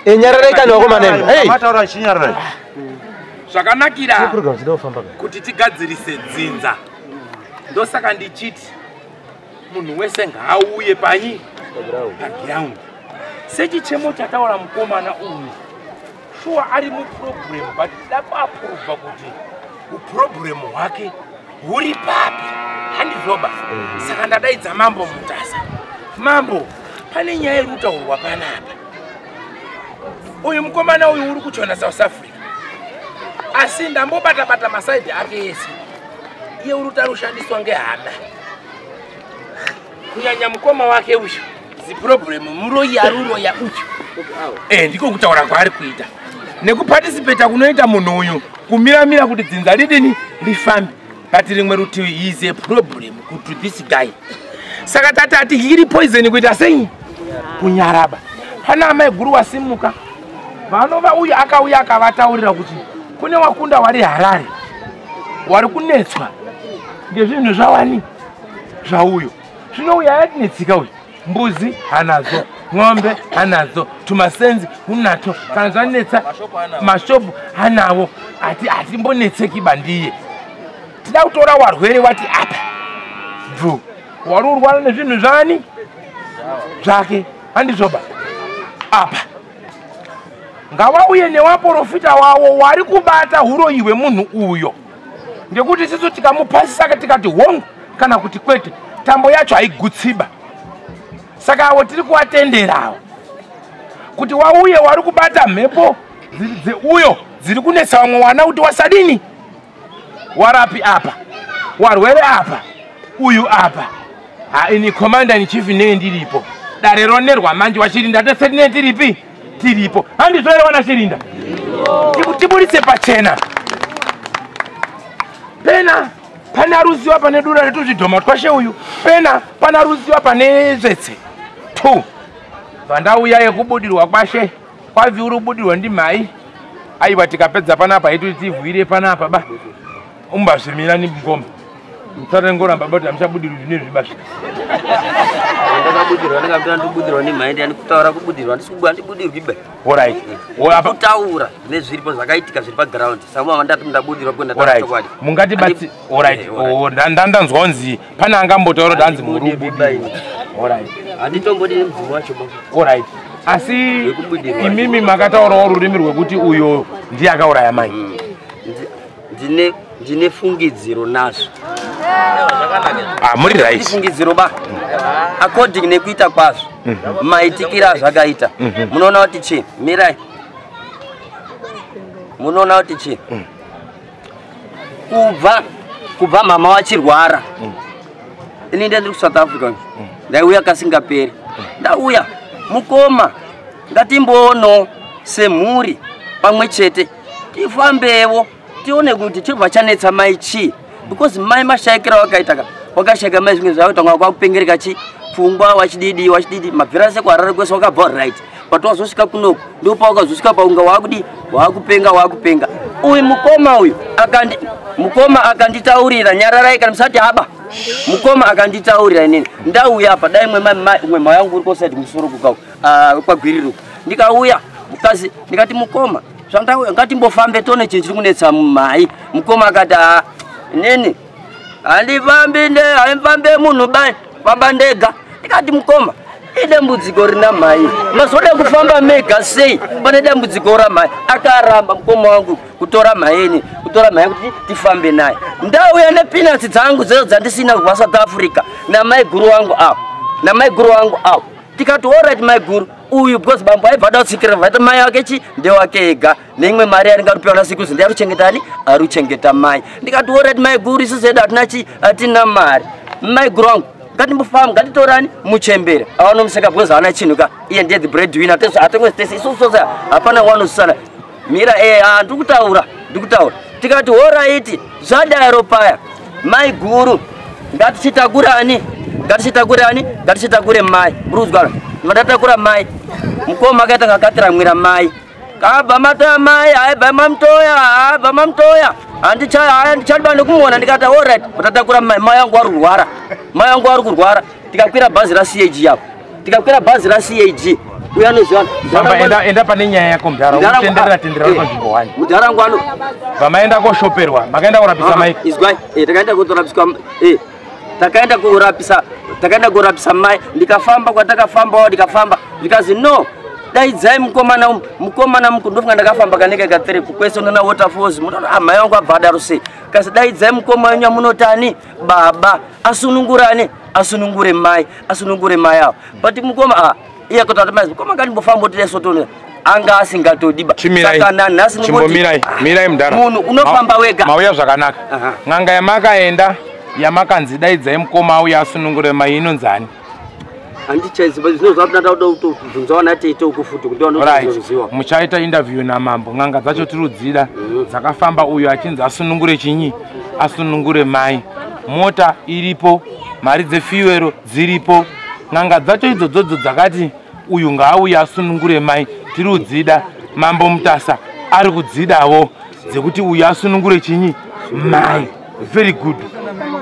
Eh, nyararai kani vakomana imi. Hey. Mataura chinyararai. Zvakanakira kuti tigadzirise dzinza. Ndosaka ndichiti munhu wese ngaauye panyi paground. Sechichemo chataura mukomana uyu shuwa ari muproblem but tida kuaprova kuti uproblem hwake huri papi handizvoba mm. saka ndadaidza mambo mutasa mambo pane nyaya iri kutaurwa panapa uyu mukomana uyu uri kuchona south africa asi ndambobatabata masaidi ake ese iye uri kutarishandiswa ngehama kunyanya mukoma wake uyu ziproblem muroyi ari uroya uyu eh, ndiko kutaura kwaari kuita nekupatisipeta kunoita munhu uyu kumiramira kuti dzinza ridini rifambe but rimwe rutivi heis a problem kuto this guy saka tati ati iri poison kuita sei kunyaraba pana amai guru wasimuka vanova uyu akauya akavataurira kuti kune wakunda wari harare wari kunetswa ngezvinhu zvawani zvauyo zvino uyo ayatinetsika uyo mbuzi hanadzo n'ombe hanadzo tumasenzi unato kana zvanetsa mashopu hanawo ati hatimbonetseki bandiye tida kutora warwere wati apa bvu wari urwara nezvinhu zvani zvake handizvoba apa ngawauye newaporofita wawo wari kubata uroyi hwemunhu uyo ngekuti isisu tikamupasisa tikati hongu kana kuti kwete tambo yacho haigutsiba saka avo tiri kuvatenderawo kuti wauye wari kubata mhepo dzeuyo dziri kunetsa vamwe wana kuti wasadini warapi apa warwere apa uyu apa haini commander in chief nee ndiripo dare ronerwa manje wachiri ndateserine tiripi tiripo handizvo here vana chirinda tiburitse pachena pena pana ruziva pane dura retuzvidhoma twashe uyu pena pana ruziva pane zvetse two pandauya yekubudirwa kwashe kwaviuri kubudirwa ndimhai aiwa tikapedza panapa haitoti tivhuire panapa ba umbazvimira ni mukoma musatengoramba bati amuchabudirwa zvine zvibasha ndakabudirwa ndikabuda ndibudirwa nemhaindi yani kutaura kubudirwa andibudirwi be orit kutaura nezviripo zvakaitika zviri paground samu ava ndati ndabudirwa kuenda tachokwadi mungati bati orit eh, oh, ndandanzwa kunzi pane angambotaura kuti hanzi murubudirwa orit handitombodi nemudzimu wacho orit asi imimi makataurawo rurimi rwekuti uyo ndiye akauraya mai mm. ndine ndine fungidziro nazvo ah, muri right fungidziro ba according nekuita kwazvo mhm. maitikira mm -hmm. zvakaita mm -hmm. munoona kuti chii mirai munoona kuti chii mm. kubva kubva mama wachirwara mm. ini nda ndiri kusouth africa mm. ndaiuya kasingaperi mm. ndauya mukoma ngatimboono semhuri pamwe chete tifambewo tione kuti chibva chanetsa mai chii because mai mashaikira wakaita ka wakashaika mai zvimwe zvavo tanga kwakupengereka chi pfungwa wachididi wachididi mabvira seko harare kwese wakabva uri right but wazosvika kunoku ndo pawakazosvika paunga waakudi waakupenga waakupenga uyu mukoma uyu akandi mukoma akanditaurira nyararai kana musati haba mukoma akanditaurira inini ndauya apa dai mwe mwe mwayangu uri kosaidi musoro kukau ah, kwagwiriro ndikauya mukazi ndikati mukoma zvandauya ngatimbofambe tone chinhu chiri kunetsa mumai mukoma akati haa ah, nini handifambi ne handifambe munhu bai famba ndega ndikati mukoma idambudziko rina mhai mazoda kufamba mega sei pane dambudziko ramhai akaramba mukoma wangu kutora mhaini kutora mhai kuti tifambe naye ndauya nepinatsi dzangu dzezo dzandisina kubva south africa namaiguru wangu avo namaiguru wangu avo tikati orit maiguru uyu because bambo aibva ada kutsikira vaita mai wake chi ndewake ega neimwe mari yaringa rupiwa nasikuzi ndi aruchengetani aruchengeta mai ndikati orit maiguru isu zedu hatina chi hatina mari maiguru wangu ngatimbofamba ngatitorani muchembere awanomseka because haana chinhu ka iye ndiye the bread winner atengwe stese isu sose hapana wanosisana mira eh, ah, ndiri kutaura ndiri kutaura tikati horaiti zvadaro paya mai guru ngatichitakurani ngatichitakurani ngatichitakure mai muri kuzwara vandatakura mai mukoma akaita ngakatiramwira mai kabva matoya mai aibva mamtoya aibva mamtoya handichadiba nekumuona ndikati orit vatatakura mai mai yangu ari kurwara mai yangu ari kurwara tikakwira bhazi racg yavo tikakwira bhazi racag uya anoziva enda pane nyaya yako mudhara utenderera tenderera uri panzvimbo wani mudhara wangu ano vamaenda koshoperwa makaenda kurapisa mai izwai eh, takaenda kutorapisa eh, takaenda kurapisa takaenda kurapisa mai ndikafamba kwatakafambawo ndikafamba zvikanzi no daidzai mukomana umu mukomana muku ndofunga ndakafamba kanenge katere kukwese unoona waterfalls munoona amai ah, wangu abva adaro sei kasi daidzai mukoma wenyu amunotani baba asunungurane asunungure mai asunungure mai avo but mukoma a ah, iye kotati mai mukoma ngatimbofamba otida sotoni anga asingatodiba saka nanhasi nmirai mirai ah, mudhara munhu unofamba wega mauya zvakanaka n'anga yamakaenda yamakanzi daidzai mukoma auya asunungure mai inonzani handichaiziva zvino zvatinada kuda kutobvunzawo natete uku futi kuti vanoziva muchaita interview namambo n'anga dzacho tirudzira mm. dzakafamba uyo achinzi asunungure chinyi asunungure mai mota iripo mari dzefiwero dziripo n'anga dzacho idzodzodzo dzakati uyu ngaauye asunungure mai tiri kudzida mambo mutasa ari kudzidavo dzekuti uyu asunungure chinyi mai very good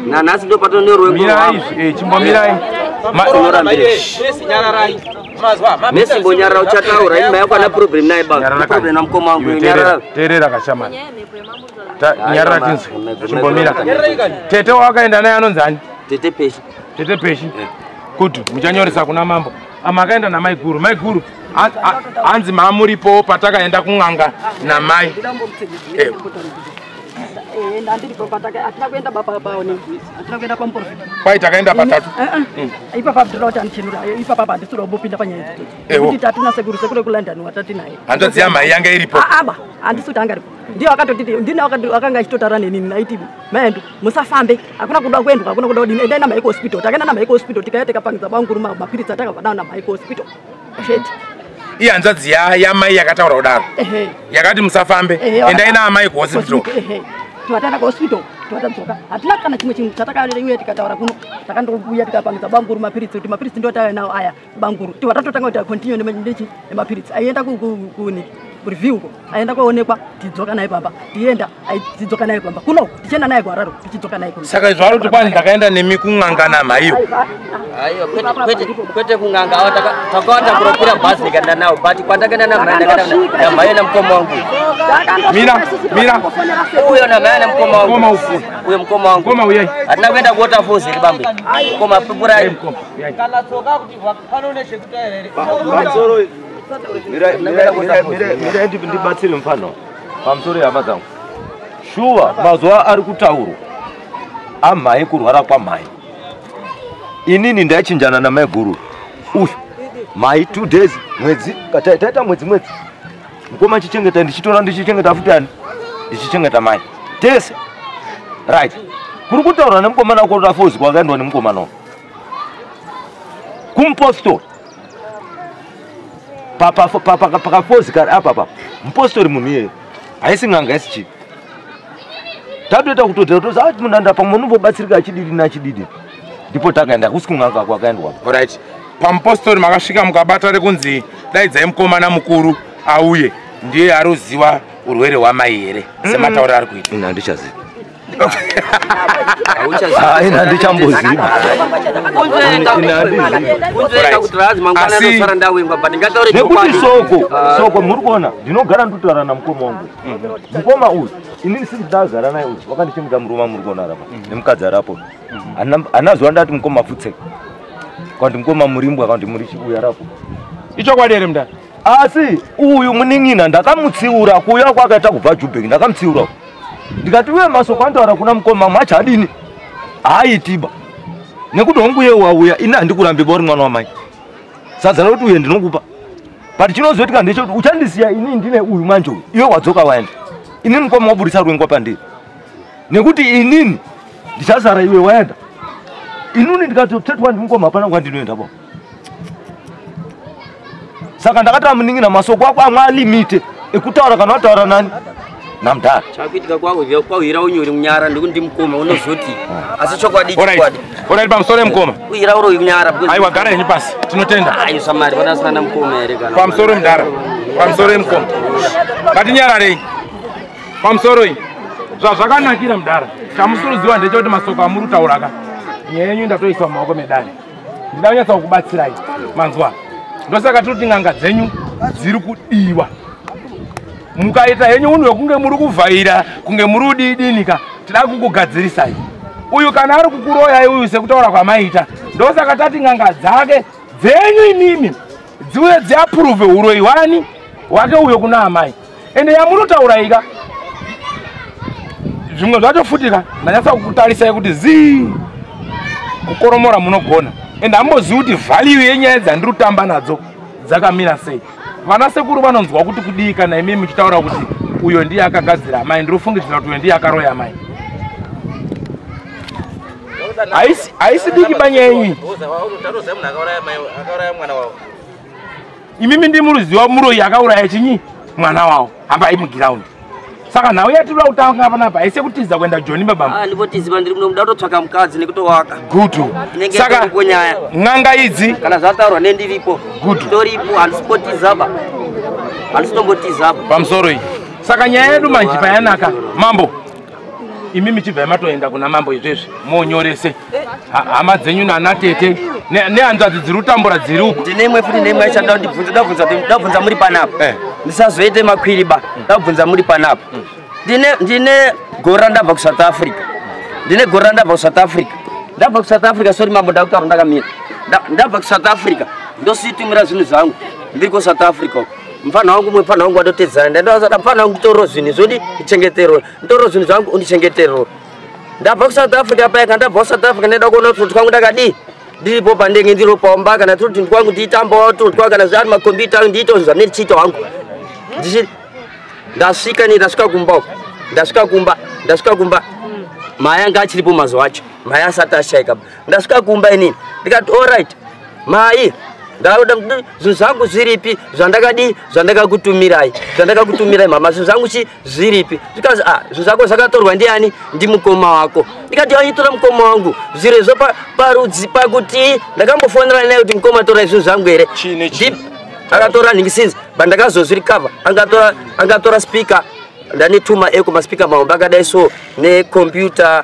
nanhasi ndopatonyorwemirai eh, chimbomirai mesimbonyarara uchataura imba yako ana problem naye baproblem namukoma wangu nyarara terera kashamani nyarara tinzwe chimbomira tete wawakaenda naye anonzi ani tete peshi tete peshi eh. kuti muchanyoresa kuna mambo yeah. makaenda namaiguru maiguru hanzi mamuripowo patakaenda kun'anga namai kwai takaenda patatu eh, eh. mm. ipapa abdula kuti andichenura ipapa apa handisiri wambopinda panyaya idzokuti tatina sekuru sekuru ekulondon watati naye hanzvadzi yamai yanga iripo aba handisi kuti anga ripo ndiye wakatoti ndina wakanga achitotaura nenini naiti maendu musafambe hakuna kuda kuendwa hakuna kuda kudini endai namaiko hospital takaenda namaiko hospital tikaya tikapangidza banguru mapiritsi atakabva nawo namaiko hospital sheti ihanzvadzi yamai yakataura kudaro yakati musafambe endai naamai kuhospital tivatenda kuhospital tivatadzoka hatina kana chimwe chinhu chatakaauya tikataura kuno takandouya tikapangidza banguru mapiritsi kuti mapiritsi ndotaaya nawo aya banguru tiwa tatotanga kuti continue nechi nemapiritsi aienda kuni kureview uko aienda kwaonekwa tidzoka naye pamba tienda tidzoka naye pamba kuno tichienda naye kuhararo tichidzoka naye kuno saka izvo aroti kwani ndakaenda nemi kun'anga namaiyo aiyo kwete kun'anga awa takawata kuropira bhasi ndikaenda nawo but kwandakaenda namaiyo namukoma wangu mira mira uyo namaiyo namukoma wangu uyo mukoma wangu hatina kuenda kuwaterfalls iri bambe mukoma pipurai kana tsoka kuti pano une chekutaira here mirai ndibatsire mufano pamusoro yehama dzangu shuwa mazuva ari kutaurwa amhai kurwara kwamhai inini ndaichinjana namaiguru uyu mhai two days mwedzi taita mwedzi mwedzi mukoma chichengeta ndichitora ndichichengeta futi ani ndichichengeta mai tese right kuri kutaura nemukomana kota fozi kwakaendwa nemukomana uyu kumupostori pakafozi kari apa papa mupostori munhu iyeye haisi n'anga haisi chii tatoita kutotera tozi ati ah, munhu anda pamwe unombobatsirika achididi nachididi ndipo takaenda kusi kun'anga ako akaendwa orit pamupostori makasvika mukabata rekunzi daidzai mukomana mukuru auye ndiye aruziva urwere hwamai here mm. sematauro ari kuita ini handichazivi haina ndichamboziva nekuti soko ah. soko muri kuona ndinogara nditotaura namukoma wangu mukoma uyu inini sisi ndagara naye uyu wakandichengeta murume amuri kuona arapa nemukadzi arapo hana zuva ndati mukoma futseka kwandi mukoma murimbwa kwandi muri chiuya rapo ichokwadi here mudari asi uyu munin'ina ndakamutsiura kuuya kwakaita kubva jubheki ndakamutsiura ndikati uye masoko andoara kuna mukoma macho adini haaitiba nekuti hongu uye wauya ini handikurambi bauri mwana wamai sadza rekuti uye ndinokupa but chinozoitika ndechekuti uchandisiya ini ndine uyu manje uyu iwe wadzoka waenda inini mukoma waburitsa rwengwa pandiri nekuti inini ndichasara iwe waenda inini ndikatotetwa ndimukoma hapana kwandinoenda baba saka ndakati amunin'ina masoko ako amwe alimite ekutaura kana wataura nani namdara chakuitika kwauhira unyori munyara ndikuti ndimukoma unozoti ah. asi chokwadi chokwadi orai pamusoro emukoma uhira uro unyara aiwa gara henyu pasi tinotenda ayo samari vanasina namukoma here kana pamusoro emudara pamusoro emukoma ngatinyararei pamusoro iyi zvazvakanakira mudara chamusoro ziva ndechekuti masoko amuri kutauraka nyaya yenyu ndatoisa mumaoko medare ndida kunyatsa kukubatsirai manzwa ndosaka tiri kuti n'anga dzenyu dziri kudiwa mukaita henyu unhu wekunge muri kuvhaira kunge muri udiidinika tida kukugadzirisai uyu kana ari kukuroyai uyu sekutaura kwamaita ndosaka tati n'anga dzake dzenyu imimi dziuye dziapuruve uroyi wani wake uyo kuna amai ende yamunotaura ika zvimwe zvacho futi ka ndanyatsa kukutarisai kuti zii kukoromora munogona and hambozivi kuti vhalue yenyaya dzandiri kutamba nadzo dzakamira sei vana sekuru vanonzwa kuti kudii kana imi muchitaura kuti uyo ndiye akagadzira amai ndiri kufungidzira kuti uyo ndiye akaroya amai haisi diki banyaya yenyu imimi ndimuruziva muroyi akauraya chinyi mwana wavo hambai mugiraundi saka nhau yatiri kutanga panapa haisi kutiza kuenda joni babaandivotiziva ah, ndiri muno muda kutotsvaka mukadzi nekutovaka gudu saka nyaya n'anga idzi kana zvataurwa nendiripo gudu toripo handisipotizaba handisitombotizaba pamusoro iyi saka nyaya yedu manje payanaka mambo imi michibva matoenda kuna mambo izvezvi monyorese hama dzenyu nana tete nehanzvadzi dziri kutambura dziri uku ndine imwe futi neimwe aishanda kuti bvunza ndabvunza kuti ndabvunza muri panapa eh. ndisazoite makwiri ba ndabvunza muri panapa ndine ndine gore randabva kusouth africa ndine gore randabva kusouth africa ndabva kusouth africa sori mambo ndakutaura ndakamira ndabva kusouth africa ndosiitumira zvinhu zvangu ndiri kusouth africa uko mfana wangu umwe mfana wangu watotedzana ndandavasada mfana wangu nditorero zvinhu izvodi ndichengeterwe nditorero zvinhu zvangu undichengeterwe ndabva kusouth africa paya kana ndabva kusouth africa ndaida kuona kuti kwangu ndakadii ndiripo pandenge ndiropomba kana tiri kuti kwangu ndiitambawo tiri kwa kana zvaari makombiyuta angu ndiite zvinhu zvamene tichiita wangu ndichiri ndasvika ni ndasvika kumba uko ndasvika kumba ndasvika kumba maya anga achiripo mazuva acho maya asati ashaika ndasvika kumba inini ndikati orit mai ndauda kuti zvinhu zvangu zviripi zvandakadii zvandakakutumirai zvandakakutumirai mama zvinhu zvangu chi zviripi zvikanzi a ah, zvinhu zvako zvakatorwa ndiani ndimukoma wako ndikati aitora mukoma wangu zviro izvo parudzi pakuti ndakambofonera naye kuti mukoma torai zvinhu zvangu here akatora nhingi since bandakazozvirikava angatora speaker ndane tuma eko maspika mahombe akadai so necomputer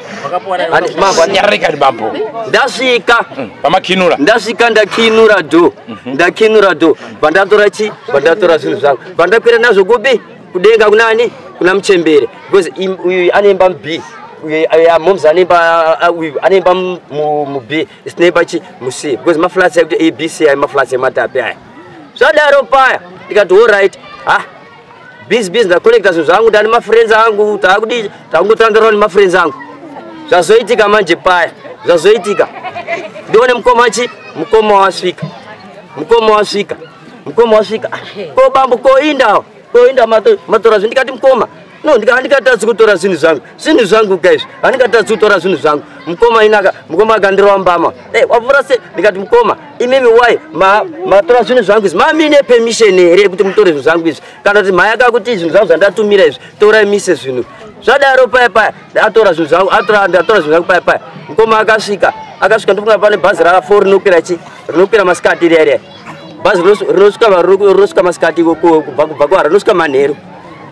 Mava nyarika bambo. Ndasvika. Mm, Pamakinura. Ndasvika ndakinura do. Mhm. Ndakinura do. Bandatora chi? Bandatora zvinhu zvangu. Bandakwira nazvo kupi? Kudenga kunani? Kuna mchembere. Because uyu anemba mbi. Uyu moms anemba uyu anemba mubi. Sinemba chi? Musi. Because maflats ekuti ABC ayi maflats ematapi aya. Zvadaro paya. Ndikati all right. Ah, busy busy ndacollecta zvinhu zvangu ndani mafriends angu taakudii takungotandarwa nemafriends angu zvazoitika manje paya zvazoitika ndione mukoma chi mukoma wasvika mukoma wasvika mukoma wasvika ko bambo koindawo koinda matora zvinhu ndikati mukoma no ndikatadzi kutora zvinhu zvangu zvinhu zvangu ka izvi handingatadzi kutora zvinhu zvangu mukoma inaka mukoma akandirova mbama eh, wavhura sei ndikati mukoma imimi why matora zvinhu zvangu izvi mamine permission here yekuti mutore zvinhu zvangu izvi kana kuti mhaya kakuti zvinhu zvangu zvandatumira izvi torai mise zvinhu zvadaro paya paya atora zvinhu zvangu atora zvinhu zvangu paya paya mukoma akasvika akasvika ndofunga pane bhazi rafo rinokwira chi rinokwira masikati riya riya bhazi rinosvika masikati kubva kubva kwara rinosvika manheru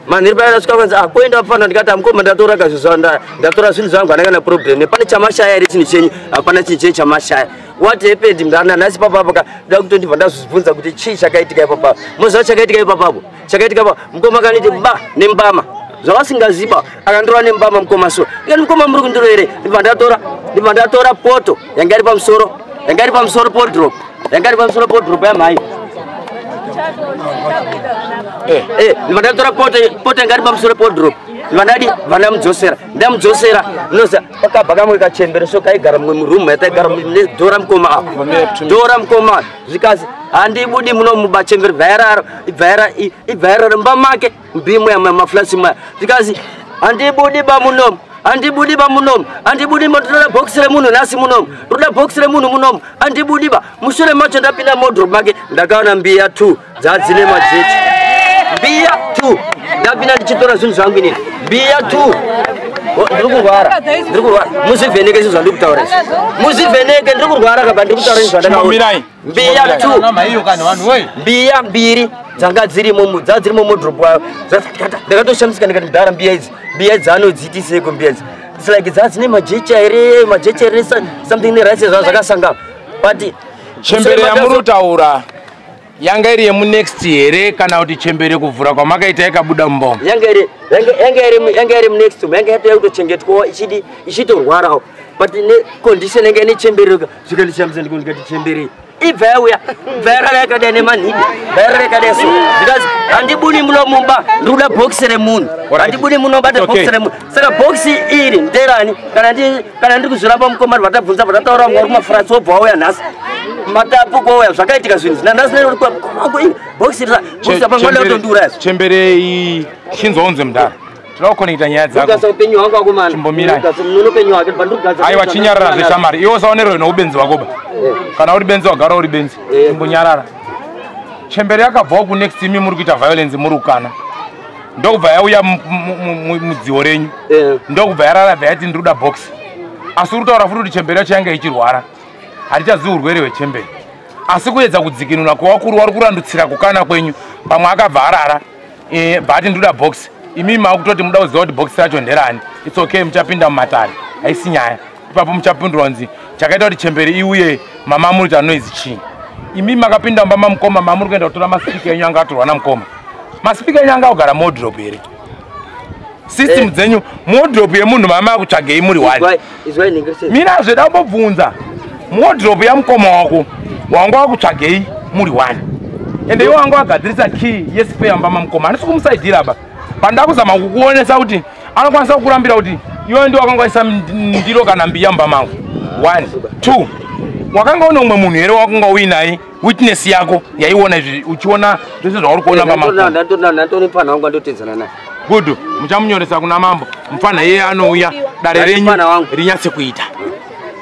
manhiri paya ndasvika kwanzi ah, koenda pano ndikati amukoma ndatora ka zvinhu zvangu ndatora zvinhu zvangu handanga na problem pane chamashaya here chinhu chenyu hapana chinhu chenyu chamashaya what happened mdana nhasi papapo ka da kutondibva ndazvibvunza kuti chii chakaitika ipapapo moziva chakaitika ipapapo chakaitika pa mukoma kaniti ba nembama zvavasingaziba akandirova nembama mukoma so ikati mukoma muri kundiro here ndibva ndatora ndibva ndatora poto yanga iri pamusoro yanga iri pamusoro podrop yanga iri pamusoro podrop yamhai eh, eh, ndibva ndatora poto poto yanga iri pamusoro podrop ndibva ndadi bva ndamudzosera ndamudzosera ndinoza pakabva kamwe kachembere so kaigara mumwe muroom yataigara dora mukoma apo dora mukoma zvikazi handibudi muno mubachembere bvairaro ibvairaro mbamake mbimo yamamaflasi maya ndikazi handibudi bamunomu andibudi ba munomu andibudi ma toda box remunhu nhasi munomu toda box remunhu munomu andibudi ba mushure macho ndapinda modrop make ndakaona mbiya t dzadzine majechi mbiya t ndapinda ndichitora zvinhu zvangu inini mbiya t ndiri kurwara ndiri kurwara muzivheneke izvi zvandiri kutaura izvi muzivheneke ndiri kurwara kaba ndiri kutaura izvi zvandakaomirai mbiya two mbiya mbiri dzanga dzirimo dzaa dzirimo modrop wayo ndakatoshamsika ndikati mdara mbiya idzi mbiya idzi anodziitiseko mbiya idzi its like dzaa dzine majecha here majecha here something nerice zvaa zvakasangana but chembere yamunotaura yanga iri yemunext here kana kuti chembere kuvhura kwamakaita yakabuda mumbongo yanga iri munext yanga yatouya kutochengetwawo ichidi ichitorwarawo but necondition yanga ine chembereka zvikandishamisa ndiko ndikati chembere ibva yauya ibva yarara yakadai nemanhidi ibva yarara yakadai so zvikanzi handibuni muno mumba ndikuda bhokisi remunhu handibuni muno bata bhokisi remunhu saka bhokisi iri nderani kana ndiri kuzviramba mukomari vatabvunza vatataura vanga uri kumafurasi wobva wauya nhasi matapu kwauya zvakaitika zvinhu zvina nhasi nerokuabhokisi iri bhokisi apa mwana utondiuraya chembere iyi chinzwa unze mudhara Tinoda kukonekita nyaya dzako. Ndikasa upenyu hwangu akomana. Chimbomira. Ndikasa munono upenyu hwake ndibva ndikugadzira. Aiwa chinyarara zveshamari. Iwe usaonerwe noubenzi hwako ba. Eh. Kana uri benzi wagara uri benzi. Eh. Chimbonyarara. Chembere yakabvawo ku next imi muri kuita violence muri kukana. Ndokubva yauya mudziwo renyu. Eh. Ndokubva yarara bva yati ndiri kuda box. Asi uri kutaura futi kuti chembere yacho yanga ichirwara. Hatichazivi urwere hwechembere. Asi kuedza kudzikinura kwawakuru wari kurandutsira kukana kwenyu. Pamwe akabva arara. eh, but ndoda box imi makutoti muda kuziva kuti box racho nderani its okay muchapinda mumatare haisi nyaya ipapo muchapindura kunzi chakaita kuti chembere iuye mama muri kuita noise chii imi makapinda mumba mamukoma mamuri kuenda kutora masipika enyu anga atorwa namukoma masipika enyu anga akugara modrop here system eh. dzenyu modrop yemunhu mama akutsvagei muri one mina zveda kumbobvunza muodropu yamukoma wako wanga wakutsvagei muri one ende iwo wanga wagadzirisa key yesipe yamba mamukoma handisi kumusaidira ba panda kuzama kukuonesa kuti anokwanisa kukurambira kuti iwe ndi wakangwaisa ndiro kana mbiya mumba mangu one two wakanga une umwe munhu here wakunga uinaye witness yako yaiona izvi uchiona zvese zvauri kuona pamaandatotori mfana wangu andotedzana naye good muchamunyoresa kuna mambo mfana iye anouya dare renyu rinyatse kuita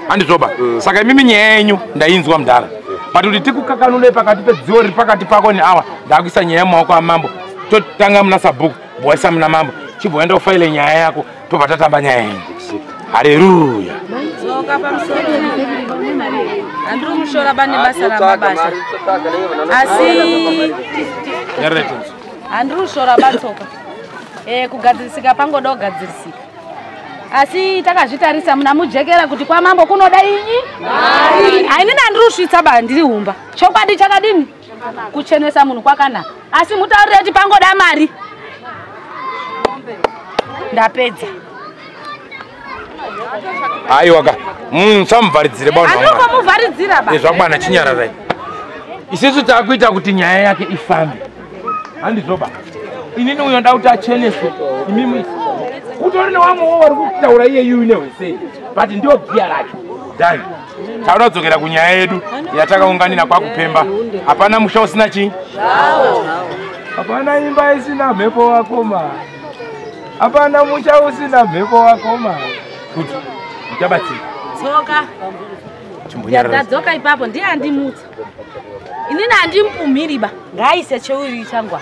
handizvoba mm. saka imimi nyaya yenyu ndainzwa mudhara but kuti tikukakanule pakati pedziwo riri pakati pako neawa ndakuisa nyaya mumaoko amambo totanga muna sabhuku bhoisa muna mambo chibhoenda ufaile nyaya yako tobva tatamba nyaya iyi hareruya dzoka pamusoro handiri mushora bane basa ramabasa asi handiri kushora batsoka eh, kugadzirisika pangoda kugadzirisika asi takazvitarisa muna mujekera kuti kwamambo kunoda inyi hainini handiri kusvitsa ba ndiri humba chokwadi chakadini kuchenesa munhu kwakanaka asi mutaurire kuti pangoda mari ndapedza aiwaka musamuvharidzire baunozvakwana chinyararai isisu takuita kuti nyaya yake ifambe handizoba inini uyo nda kuti acheneswe imimi kutori newamwewo wari kutaura iye yuyu nehwesei but ndio giya racho dani tauda kudzokera kunyaya yedu yatakaunganira kwakupemba hapana musha usina chii hapana imba isina mhepo wakoma hapana musha usina mhepo wakoma kuti uchabatsira tsoka ndadzoka ipapo ndiye andimutsa inini andimpumhiriba ngaise cheuri changwa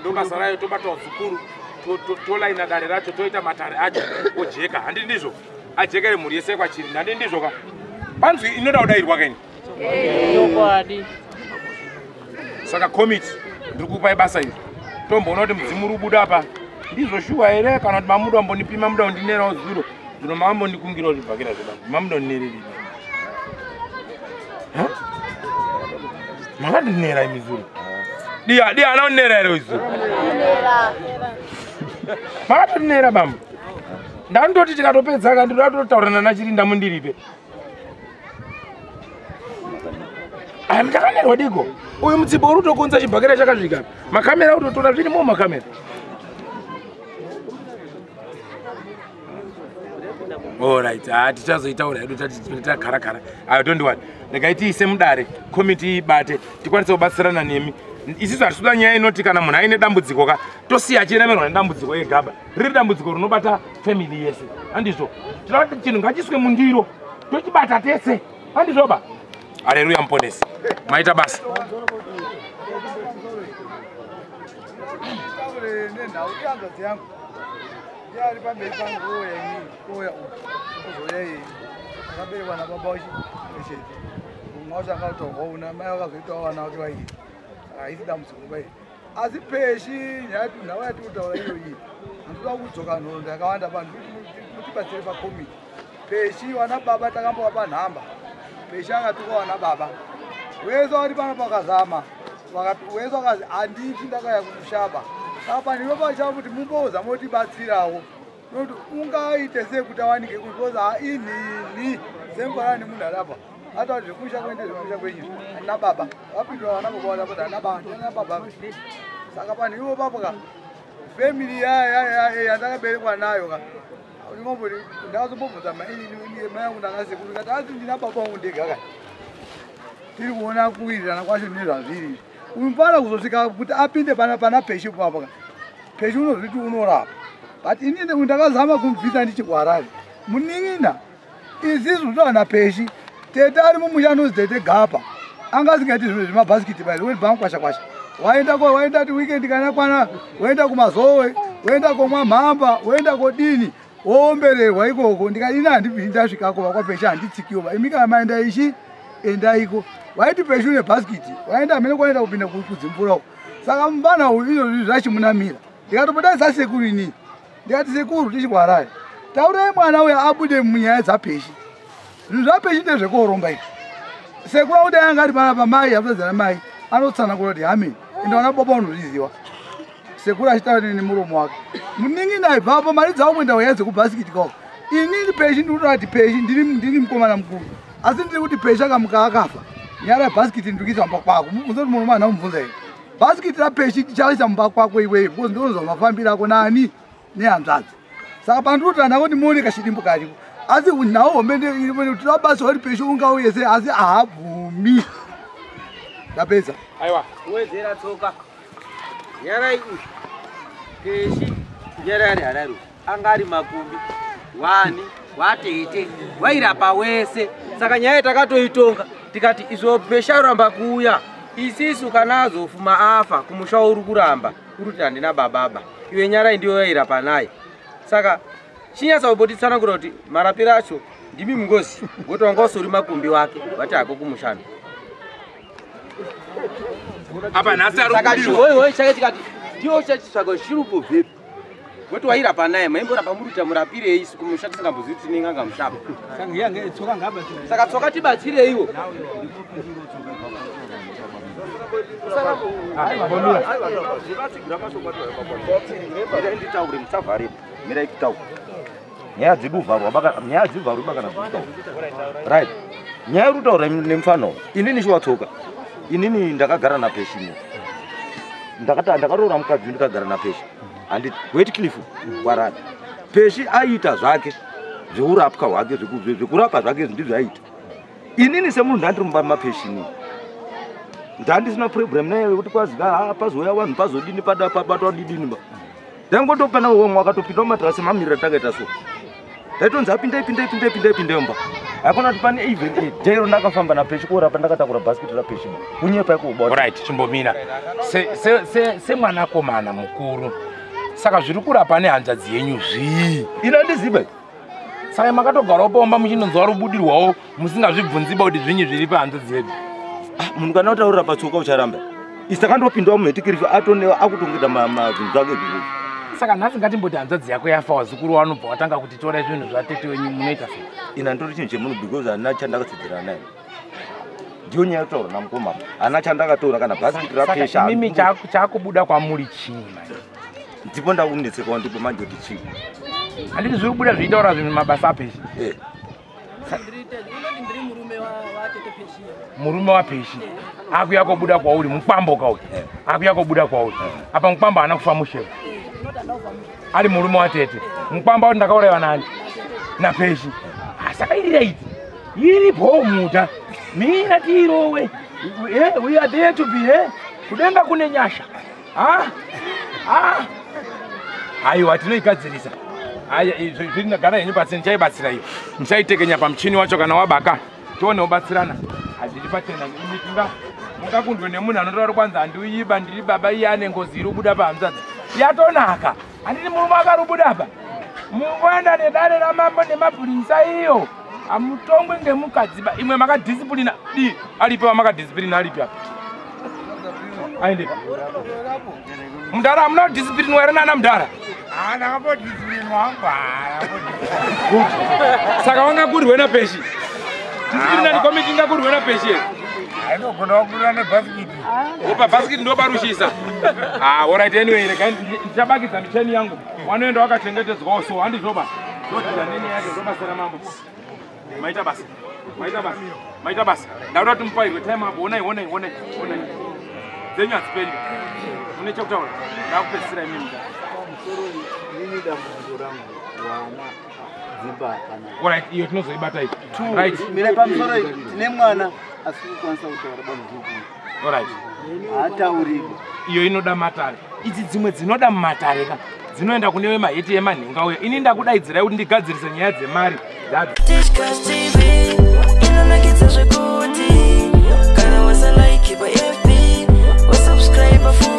ndobasa rayo tobatawo zukuru tolaina dare racho toita matare acho ojeka handi ndizvo ajekere mhuri yese kwachiri handi ndizvo ka panzwi inoda kudairwa kaini chokwadi saka komiti ndiri kupai basa iri tomboona kuti mudzimu uri kubuda apa ndizvo shuwa here kana kuti mamuda ambonipima muda undinerawo zuro zvino maambondikungirawo zvibhakira zvoda mamuda undinererei makandinera imi zuro dia dia anonera here izuro makatonera bambo ndandoti tikatopedza ka ndinoda totaura nana chirinda mundiripe aya mutakanerwa diko uyu mutsibo uri kutokonza chibhakera chakasvika makamera utotora zvirimo makamera orit ha tichazoitaura hedu tatitakharakara ayo don't wori regai tiise mudare komiti ibate tikwanise kubatsirana nemi isisu hatisuda nyaya inoti kana munhu aine dambudziko ka tosiya achiremerwa nedambudziko yegaba riri dambudziko rinobata family yese handizvo tinoda kuti chinhu ngachiswe mundiro tochibata tese handizvoba hareruya muponesi maita basa nenhau ihanzvadzi yangu Yari pamberi pangu oya ini oya kuzoya iyi akaberekwa nababa wacho chete mumwe wacho akatohwa una mai vakazoitawo vana vake vaii haisi dambudziko bai asi peshi nyaya nhau yatiri kutaura iyoyi handitoda kudzoka nhoroondo yakawanda vanhu kuti mutibatsire pakomiti peshi vana baba takambovapa nhamba peshi akatukwa vana baba wese wati pana pakazama wese wakazi handiti ndakaya kumushaba saka pandivo pachava kuti mumboudza motibatsirawo nokuti ungaite sei kuti awanike kuti kozi hainini semvara nemunhu arapa ata kuti zvekumusha kuende zvekumusha kwenyu handina baba vapindwa vana baba vana kuti handina baba handina baba saka panhu ivo papo ka family yaya yaya yandakaberekwa nayo ka ndakazobobvudza mai yangu ndakasekuru kati asi ndina baba wangu ndega kani tiri kuona kuwirirana kwacho nezvazviri unofanira kuzosvika kuti apinde pana pana peshi papa peshi unozviti unorapa but ini ndakazama kumubvisa ndichikuharare munin'ina izizi kutowana peshi tete ari mumusha anozi tete gapa anga asingaiti zvinhu zvemabhasikiti bai weni bamkwashakwasha waenda ko waenda ti weekend kana kwana waenda kumazowe waenda komwa mhamba waenda kodini woombererwa ikoko ndikadini handibvii ndasvikako vakwapesha handitsikiwo va imika maenda ichi endaiko waiti peshi une bhasikiti waenda amene kwaenda kupinda kudzimvura uko saka mvana uyu izvozvi zvachimunamira ndikatopota isasekuru inii ndikati sekuru tichikwarai taurai mwana uya abude munyaya dzapeshi zvinhu zvapeshi ndezvekoromba izvi sekuru akuda yanga ari pana pamai akutadzana mai anotsanangura kuti hame ende vana baba unozviziva sekuru achitaura nene muromo wake muningi ndaibvapo mari dzavo kuenda waya dzekubhasikiti kao inini peshi ndikutoa kuti peshi ndini mukomana mukuru asi ndiri kuti peshi akamuka akafa nyara yebhasikiti ndikizamba kwako mubvunza kuti muno mwana umubvunza here basi kuitira peshi tichaisa mumba kwako iwee because ndonzwa mafambiro ako nani nehanzvadzi saka pandinotora navo ndimoone kashidimbo kariko asi nhau hombe ndotoda basa uri peshi ungauye se asi ahabvumi ndapedza aiwa wedzera tsoka nyarai uyu peshi nyarari harari anga ari makumbi wani watete wairapa wese saka nyaya takatoitonga tikati izvo presha yoramba kuuya isisu kana azofuma afa kumusha uri kuramba uri kuti handina bababa iwe nyarai ndiyo yairapa naye saka chinyatsa kubotitsanangura kuti marapiro acho ndimi mungozi woti wanga usori makumbi wake vati hako kumushando apa nhasi ari kudirwa. Saka chihoihoyi chake chikati ndiwo chachisvaga chiri kubvepi woti wairapa naye maimborapa muruta murapirei isu kumusha tisingambozivi kuti tinenge anga mushapa saka tsoka tibatsireiwo nditaure musavharepo mirai kutaura nyaya dziduvharwa bakana nyaya dzivharwi bakana zvitaura right nyaya iri kutaura nemufana uyu inini shiwatsoka inini ndakagara napeshi ino ndakaroora mukadzi ndikagara napeshi handiti wet cliff kwarani peshi aiita zvake zveurapwa hwake zvekurapa zvake izvi ndizvo aiita inini semunhu ndandiri mumba mapeshi inini ndandisina problem naye wekuti kwazi ah, pazouya vanhu pazodini pada pabatwa didini ba ndaingotopana wemwe akatopinda mumadrasi mamirira takaita so ndaitonzi apindei pindei pindei pindei pindei mba akona kuti pane even eh, day rondakafamba napeshi kuora pandakatakura basket rapeshi kunyepa ikuubaorit chimbomira semwanakomana mukuru saka zviri kurapa nehanzvadzi yenyu zvii ino ndizibe saka makatogarawo pomba muchinonzwa rubudirwawo musingazvibvunziba kuti zvinyi zviri panze dzedu ah, munhu kana utaurira patsoka ucharamba isakandopindwa mumetikirifi atone akutongeta mazvinhu zvake zvii saka nhasi ngatimboti hanzvadzi yako yafa wazukuru wanobva watanga kuti torai zvinhu zvatete wenyu munoita se ina ndori chinhu chemunhu because hana chandakatsidzira naye ndiyo nyaya yotaura namukoma hana chandakatora kana bhasiti rapesha mimi chakubuda kwamuri chii ndipo ndakunetseka wandipo manje kuti chii handiti zviri kubuda zviitaura zvinhu mabasa apesha eh. murume wapeshi akuya kobuda kwauri mukwambo kauyu eh. akuya kobuda kwauri eh. apa mukwambo haana kufa musheva ari murume watete mukwambo auti ndakauraiwa nani napeshi saka iri raiti iri bhomuta mina tiirowe eh, we are there to be here kudenga kune nyasha Ah, ah. Aiwa tinoigadzirisa. Aya zviri gara yenyu pasi ndichaibatsira iyo. Ndichaitekenya pamuchini wacho kana wabaka. Tione ubatsirana. Hazviri pachena imi tinga mungakundwe nemunhu anotaura kwanzi handiuyiba ndiri baba iye ane ngozi iri kubuda pahanzvadzi. Yatonaka. Handiti murume akarubuda apa? Mungoenda nedare ramambo nemapurisa iyo. Hamutongwe ngemukadziba. Imwe makadisciplina. Di, alipi wamakadisciplina alipi apa? Aende. Mdara hamuna kudisciplinwa here nana mdara? Ah, ndakambodisciplinwa hangu. Ah, Saka wanga kurwe na peshi. Disciplinary ah, committee inga kurwe na peshi. Hainogona wakurwa nebhasikiti. Opa basket ndobarushisa. Ah, all right anyway, regai ndichabakidza micheni yangu. Wanoenda wakachengetedzwawo so handizvoba. Ndodira nene yake ndobasira mambo. Maita basa. Maita basa. Maita basa. Ndauda kuti mupairwe time apo. Onai, onai, onai, onai. Dzenyu hadziperi. Mune chekutaura. Ndakupedzisira imini. Musoro ini dambudziko rangu. Wana. Alright, iyo tinozoibata iyi. Right. Mira pamusoro iyi tine mwana asi kukwanisa kutaura bamudhuku. Alright. Haatauriki. Iyo inoda matare. Idzi dzimwe dzinoda matare ka. Dzinoenda kune vemahiti yemanhenga uya. Ini ndakudaidzirai kuti ndigadzirise nyaya dzemari. Inonakidza zvekuti kana wasalike pa FB wasubscribe futi.